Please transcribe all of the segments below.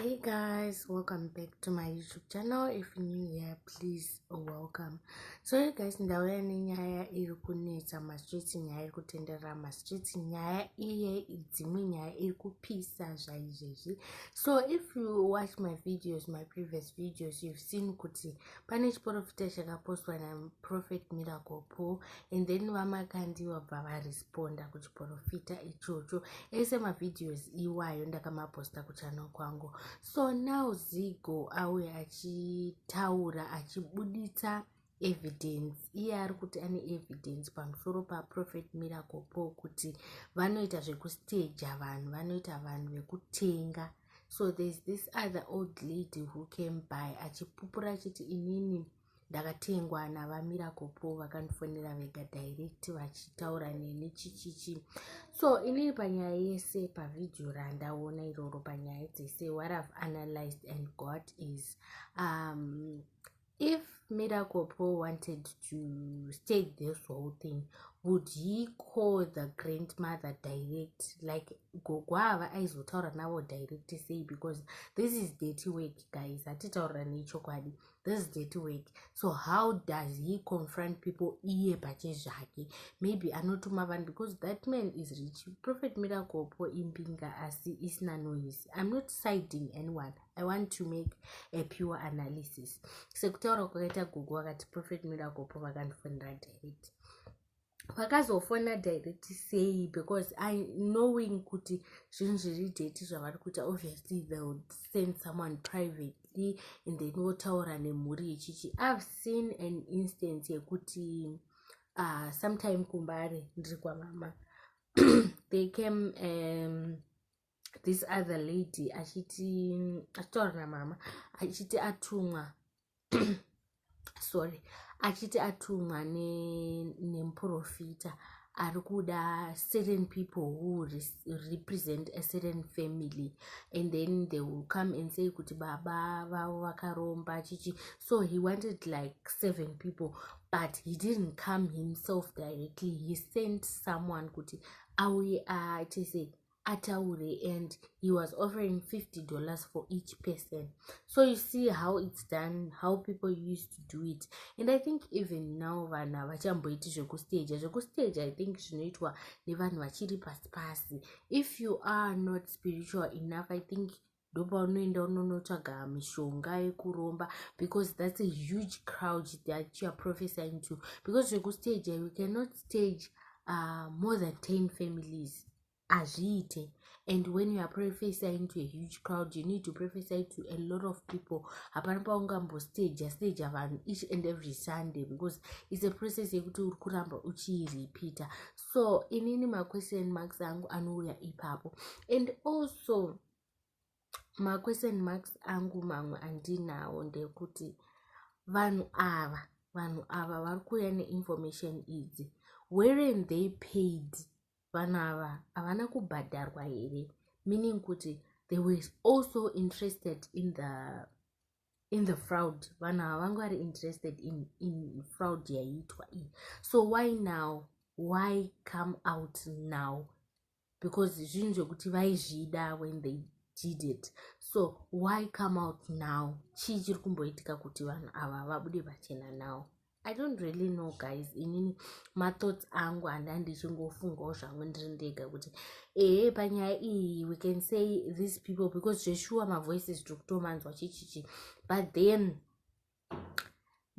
hey guys welcome back to my youtube channel if you're new here please oh, welcome so hey guys ndauya nenyaya iri kunetsa mastreets nyaya iri kutenderera mastreets nyaya iye dzimwe nyaya iri kupisa zvaizvezvi so if you watch my videos my previous videos you've seen kuti pane chiprofita chakapostwa naprofet miracle paul and then vamakandi vabva varis ponda kuchiporofita ichocho ese mavideos iwayo ndakamaposta kuchano kwangu so now zigo auye achitaura achibuditsa evidence iye ari kuti ane evidence pamusoro paprofet miracle po kuti vanoita zvekustaja vanhu vanoita vanhu vekutenga so there's this other old lady who came by achipupura achiti inini ndakatengwa navamiracle po vakandifonera vega direct vachitaura neni chichichi so inini panyaya yese pavhidhiyo randaona iroro panyaya dzese what ive analyzed and god is um, if miracle po wanted to state this whole thing would he call the grandmother direct like gogwava aizotaura navo direct sei because this is dirty work guys hatitaurira nechokwadi like, this is dirty work so how does he confront people iye pache zvake maybe anotuma vanhu because that man is rich prophet miracle po imbinga asi isina noise i'm not siding anyone i want to make a pure analysis sekutaura kwakaita gogo vakati prophet miracle po vakandifonera direct vakazofona direct sei because i knowing kuti zvinhu zviri date zvavari kuita obviously they would send someone privately and then votaura nemhuri ichichi i've seen an instance yekuti uh, sometime kumbare ndiri kwamama they came um, this other lady achiti achitaura namama achiti atumwa sorry achiti atumwa nemuprofita ne ari kuda certain people who represent a certain family and then they will come and say kuti baba vavo vakaromba chichi so he wanted like seven people but he didn't come himself directly he sent someone kuti auye achise uh, ataure and he was offering 50 dollars for each person so you see how it's done how people used to do it and i think even now vanhu havachamboiti zvekustaja zvekustaja i think zvinoitwa nevanhu vachiri pasi pasi if you are not spiritual enough i think ndopaunoenda unonotsvaga mishonga yekuromba because thats a huge crowd that youare prophesying to because zvekustaje you cannot stage uh, more than ten families hazviite and when you are prophesying to a huge crowd you need to prophesy to a lot of people hapana paungambostaja staja vanhu each and every sunday because its a process yekuti uri kuramba uchirepeater so inini maquestion marks angu anouya ipapo and also maquestion marks angu mamwe andinawo ndekuti vanhu ava vanhu ava vari kuuya neinformation idzi weren they paid vanhu ava havana kubhadharwa here meaning kuti they were also interested in the in the fraud vanhu ava vanga vari interested in, in fraud yaiitwa iyi so why now why come out now because zvinhu zvekuti vaizvida when they did it so why come out now chii chiri kumboitika kuti vanhu ava vabude pachena now i don't really know guys inini mathoughts angu handa ndichingofungawo zvangu ndiri ndega kuti ehe panyaya iyi we can say these people because zveshuwa mavoices tiri kutomanzwa chichichi but then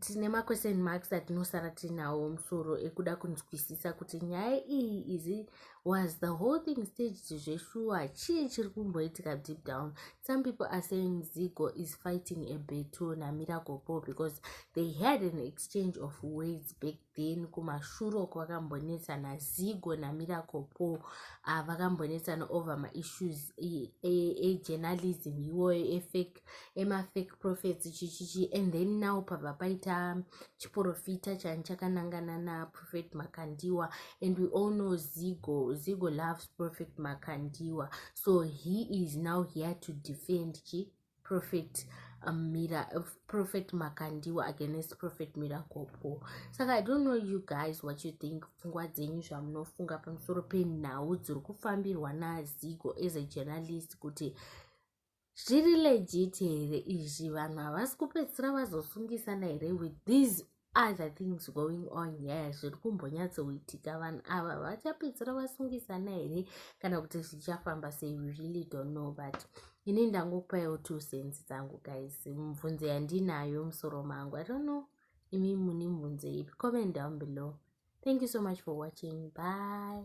tine maquestion marks atinosara tinawo musoro ekuda kunzwisisa kuti nyaya iyi izi was the whole thing staged zveshuwa chii chiri kumboitika deep down some people are saying zigo is fighting a beto namiracle paul because they had an exchange of words back then kumashure uko vakambonetsana zigo namiracle po uh, ah, vakambonetsana over maissues ejournalism e, e iwoyo efake emafake prophets chichichi and then now pabva paita chiprofita chani chakanangana naprophet makandiwa and we all know zigo zigo loves prophet makandiwa so he is now here to defend chi prophet um, mira uh, prophet makandiwa against prophet miracle paul saka i don't know you guys what you think pfungwa dzenyu zvamunofunga pamusoro penhau dziri kufambirwa nazigo as a journalist kuti zviri legit here izvi vanhu havasi kupedzisira vazosungisana here with these other things going on nyaya zviri kumbonyatsoitika vanhu ava vachapedzisira vasungisana here kana kuti zvichafamba sei we really don't know but ini ndangopaiwo two sense dzangu guys mubvunzo yandinayo musoro mangu i don't know imi mune mubvunzo ipi comment down below thank you so much for watching bye